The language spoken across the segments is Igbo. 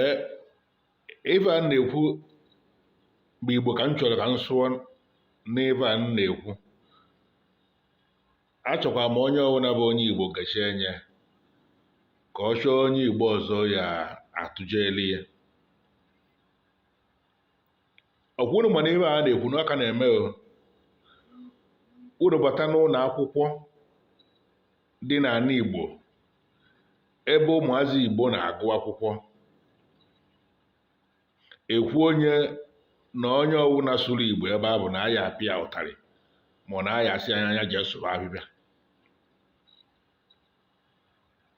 ee ive a na-ekwu bụ igbo ka m chọrọ ka m sụọ n'ive a m na-ekwu achọkwa m onye ọwụna bụ onye igbo gachi enye ka ọ chọọ onye igbo ọzọ ya atụjeli ya okwu nụ mana ive a na-ekwu na ọ ka na-eme o unu bata n'ụnọ akwụkwọ dị n'ana igbo ebe ụmụazị Igbo na-agụ akwụkwọ ekwu onye na onye ọwụna sụrụ Igbo ebe a bụ na a ya-apịa ụtarị ma na a ya-asị a nya jee sụba ahịhịa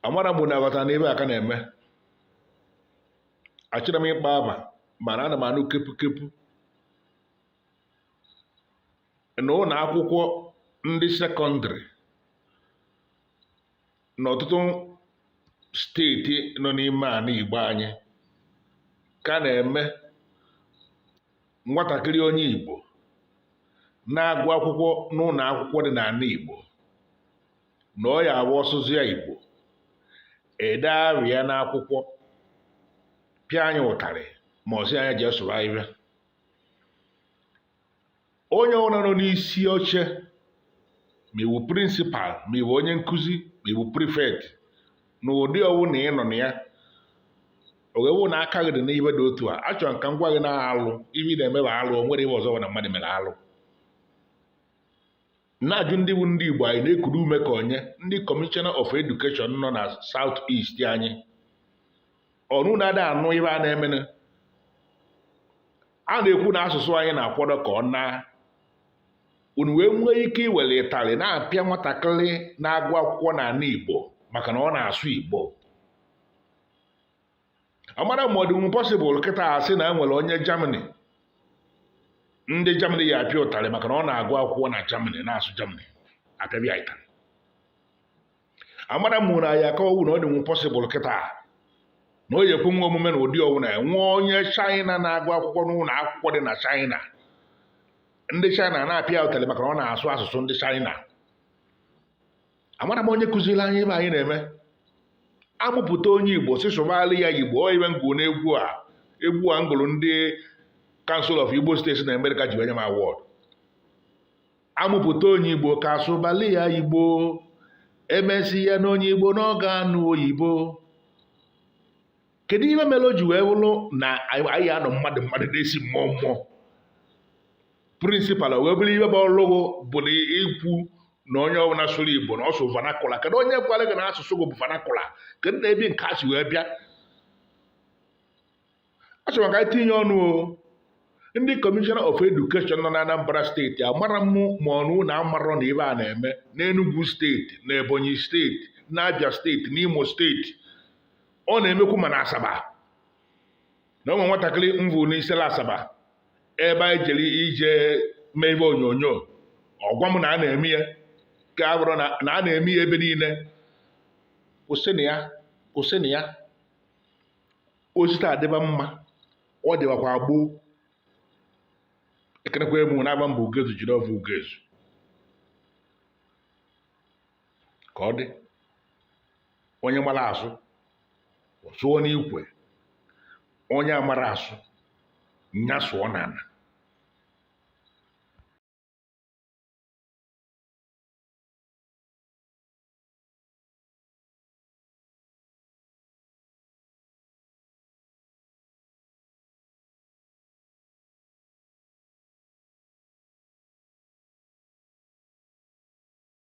amara m unu na-aghọta na ive a ka na-eme achọrọ m ịkpọ ava mana ana m anụ kepu kepu na ụnọ akwụkwọ ndị secondary n'ọtụtụ steeti nọ n'ime ana Igbo anyị ka na-eme nwatakịrị onye Igbo na-agụ akwụkwọ n'ụlọ akwụkwọ dị n'ana Igbo na ọ ya-awụ ọ sụzịa Igbo ede arị ya n'akwụkwọ pịa anyị ụtarị ma ọ sị a nya jee sụba ahịhịa onye ọwụna nọ n'isi oche ma ị wụ principal ma ị wụ onye nkuzi ma ị wụ prefect na ụdị ọwụna ị nọ na ya ọ wụrụ na aka gị dị n'ive dị otu a achọrọ ka m gwa gị na alụ ive ị na-eme bụ alụ o nwere ive ọzọ na mmadụ mere alụ na-ajụ ndị wụ ndị Igbo anyị na-ekuru ume ka onye ndị commissioner of education nọ na South East anyị unu na-ada anụ ive a na-emenụ a na-ekwu na asụsụ anyị na-akwado ka ọ naa unu wee nwee ike iwere ịtarị na-apịa nwatakịrị na-agụ akwụkwọ n'ana Igbo maka na ọ na-asụ Igbo amara m ma ọ dịnwu possible kịta a sị na e nwere onye Germany ndị Germany ya-apịa ụtarị maka na ọ na-agụ akwụkwọ na Germany na-asụ Germany a ka-apịa ịtarị amara m na ya akọwu na ọ dịnwu possible kịta na ọ ya-ekwenwu omume na ụdị ọwụna e nwee onye China na-agụ akwụkwọ n'ụlọ akwụkwọ dị na China ndị China na-apịa ụtarị maka na ọ na-asụ asụsụ ndị China amara m onye kuziri anyị ive anyị na-eme a mụpụta onye igbo sị sụbalị ya igbo ive m gụ n'egwu a egwu a m gụrụ ndị council of igbo states in america ji wee nye m award a mụpụta onye igbo ka a sụbalị ya igbo emesịa na onye igbo na ọ ga-anụ oyibo kedu ihe mere o ji wee wụrụ na a nọ mmadụ mmadụ na-esi mmụọ mmụọ principal wee bụrụ ihe bụ ọlụ gị bụ na ikwu na onye ọbụla sụrụ igbo na ọ sụrụ vernacular kedu onye gwara gị na asụsụ gị bụ vernacular kedu na ebe nke a si wee bịa asị m ka anyị tinye ọnụ o ndị commissioner of education nọ na anambra state amarọ m ma unu amarọ na ihe a na-eme n'enugwu state na ebonyi state na abia state na imo state ọ na-emekwu ma na asaba na o nwe nwatakịrị m vụ n'isela asaba ebe anyị jere ije mee ihe onyonyo ọ gwa m na a na-eme ya ka a bụrụ na a na-eme ya ebe niile kwụsịnụ ya kwụsịnụ ya o si taa dịba mma ọ dịbakwa gboo ekenekwa m unu ava m bụ ugezu jideofor ugezu ka ọ dị onye mara asụ ọ sụọ n'ikwe onye amarọ asụ nya sụọ n'ala